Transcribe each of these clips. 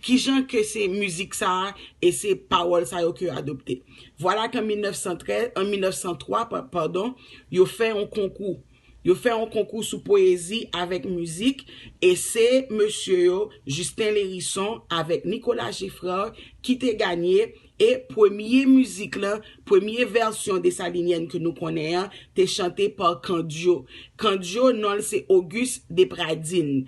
Kijan ke se mizik sa a e se pawòl sa yo ke yo adopte? Vwala ke an 1903, padon, yo fè yon konkou. Yo fè yon konkou sou pwezi avèk mizik e se mesye yo, Justin Lherisson avèk Nicolas Geffrard ki te ganye e premye mizik lan, premye vèsyon Dessalinienne ke nou konnen an te chante pa Candio. Candio non l se Auguste Depradine.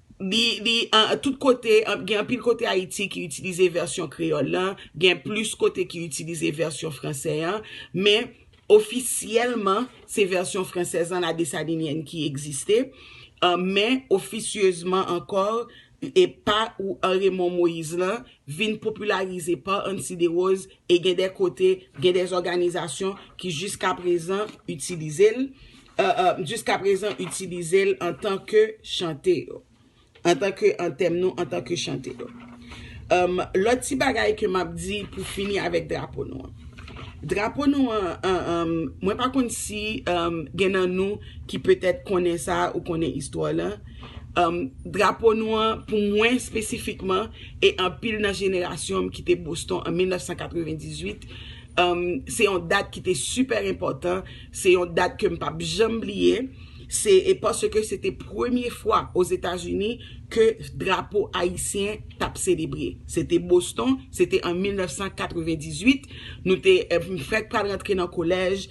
Li, li, tout kote, gen anpil kote Ayiti ki itilize vèsyon kreyòl lan, gen plis kote ki itilize vèsyon fransè an, men ofisyèlman se vèsyon fransèz lan La Dessalinienne ki egziste, men ofisyezman ankò e pa ou Raymond Moïse lan vin popilarize pa Ansy Desroses e gen de kote, gen de òganizasyon ki jiskaprezan itilize l jiskaprezan itilize l antan ke chante yo. Antan ke an tèm nou antan ke chante yo. Lòt ti bagay ke m ap di pou fini avèk drapo nou an. Drapo nou an, mwen pa konn si gen nan nou ki petèt konnen sa ou konnen istwa lan. Drapo nou an, pou mwen espesifikman, e anpil nan jenerasyon m ki te Boston an 1998, se yon dat ki te sipè enpòtan. Se yon dat ke m pap janm bliye, se e paske se te premye fwa Ozetazini ke drapo ayisyen t ap selebre. Se te Boston, se te an 1998, nou te fèk pral rantre nan kolèj,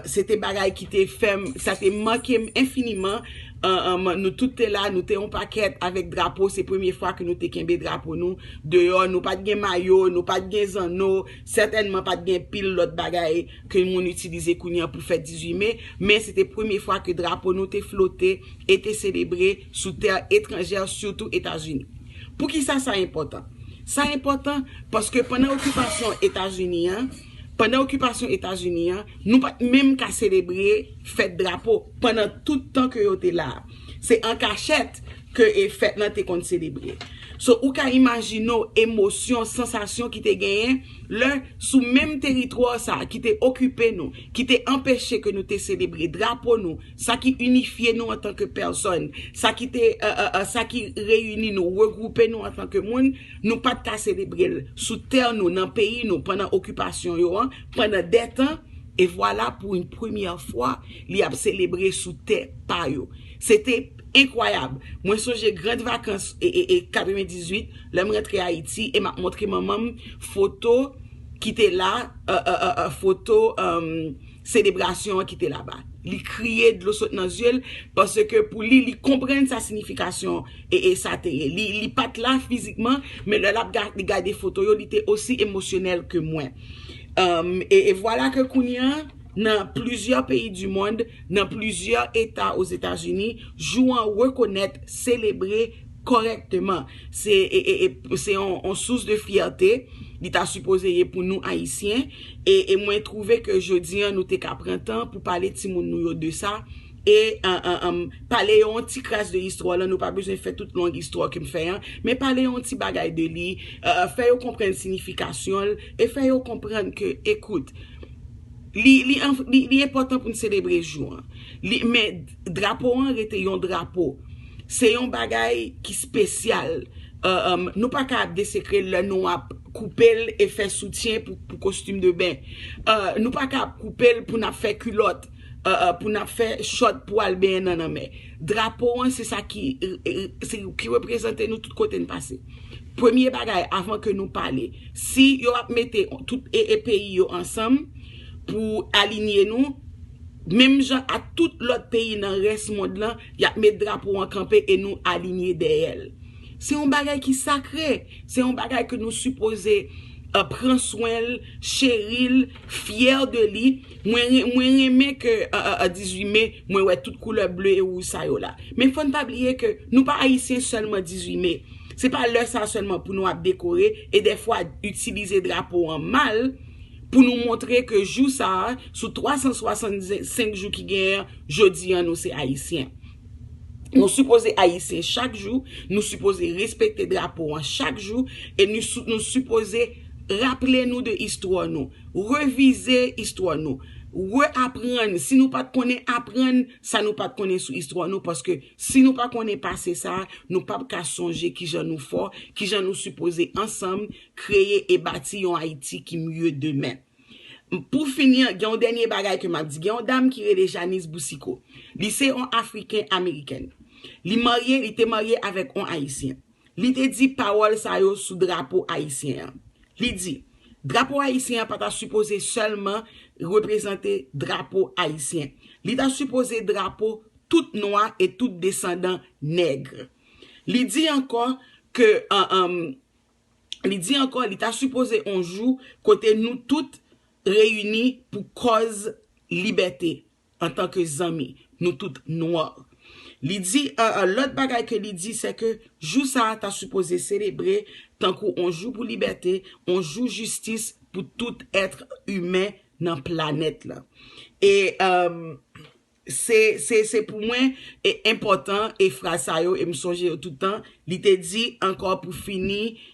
se te bagay ki te fè m, sa te make m enfiniman, nou tout te la, nou te yon pakèt avèk drapo, se premye fwa ke nou te kenbe drapo nou deyò, nou pa t gen mayo, nou pa t gen zanno, sètènman pa t gen pil lòt bagay. ke moun itilize kounye an pou fèt 18 me, men se te premye fwa ke drapo nou te flote e te selebre sou tè etranjè, sitou Etazini. Poukisa sa enpòtan? Sa enpòtan paske pandan okipasyon Etazini an, pandan okipasyon Etazini an, nou pa t menm ka selebre fèt drapo pandan tout tan ke yo te la a. Se an kachèt ke fèt lan te konn selebre. So, ou ka imajine w emosyon, sansasyon ki te genyen. lè, sou menm teritwa sa a ki te okipe nou, ki te anpeche ke nou te selebre drapo nou, sa ki inifye nou antanke pèsòn, sa ki te, sa ki reyini nou, regwoupe nou antanke moun, nou pa t ka selebre l sou tè nou, nan peyi nou, pandan okipasyon yo an, pandan de tan, e vwala pou yn premyè fwa, li ap selebre sou tè pa yo. Se te. Enkwayab! Mwen sonje grand vakans 98 lè m rantre Ayiti e m ap montre manman m foto ki te la, foto selebrasyon an ki te laba. Li kriye, dlo sot nan zye l, paske pou li, li konprann sa sinifikasyon sa te ye. Li pa t la fizikman, men lè l ap gade foto yo, li te osi emosyonèl ke mwen. E vwala ke kounye an. Nan plizyè peyi di mond, nan plizyè eta Ozetazini, jou an rekonèt, selebre kòrèkteman. Se se yon sous de fyète li ta sipoze ye pou nou Ayisyen e mwen twouve ke jodi an nou te ka pran tan pou pale timoun nou yo de sa e pale yo yon ti kras de istwa lan, nou pa bezwen fè tout long istwa ke m fè an, men pale yo yon ti bagay de li, fè yo konprann sinifikasyon l e fè yo konprann ke ekout, Li enpòtan pou n selebre jou an. Men, drapo an rete yon drapo. Se yon bagay ki spesyal. Nou pa ka ap desekre l lè nou ap koupe l e fè soutyen pou kostim de ben. Nou pa ka ap koupe l pou n ap fè kilòt. pou n ap fè chòt pou al benyen nan lanmè. Drapo an se sa ki reprezante nou tout kote n pase. Premye bagay avan ke nou pale, si yo ap mete tout ee peyi yo ansanm pou alinye nou, menm jan ak tout lòt peyi nan rès mond lan, y ap met drapo an kanpe e nou alinye dèyè l. Se yon bagay ki sakre, se yon bagay ke nou sipoze pran swen l, cheri l, fyè de li. Mwen renmen ke 18 me mwen wè tout koulè ble e wouj sa yo la. Men fòn pa bliye ke nou pa ayisyen sèlman 18 me. Se pa lè sa sèlman pou nou ap dekore e dèfwa itilize drapo an mal pou nou montre ke jou sa a sou 365 jou ki genyen an jodi an nou se ayisyen. Nou sipoze ayisyen chak jou, nou sipoze respekte drapo an chak jou e nou sipoze raple nou de istwa nou. Revize istwa nou. Reaprann, si nou pa t konnen, aprann sa nou pa t konnen sou istwa nou paske si nou pa konnen pase sa a, nou p ap ka sonje ki jan nou fò, ki jan nou sipoze ansanm kreye e bati yon Ayiti ki mye demen. Pou fini an, gen yon dènye bagay ke m ap di. Gen yon dam ki rele Janice Boucicaut. Li se yon Afriken-Amerikèn. Li marye, li te marye avèk yon Ayisyen. Li te di pawòl sa yo sou drapo ayisyen an. Li di, Drapo ayisyen an pa ta sipoze sèlman reprezante drapo ayisyen. Li ta sipoze drapo tout nwa e tout desandan nèg. Li di ankò ke li di ankò li ta sipoze on jou kote nou tout reyini pou kòz libète. antan ke zanmi, nou tout noir. Li di lòt bagay ke li di se ke jou sa a ta sipoze selebre tankou on jou pou libète, on jou jistis pou tout ètre imen nan planèt la. E se pou mwen enpòtan e fraz sa yo e m sonje yo tout tan, li te di ankò pou fini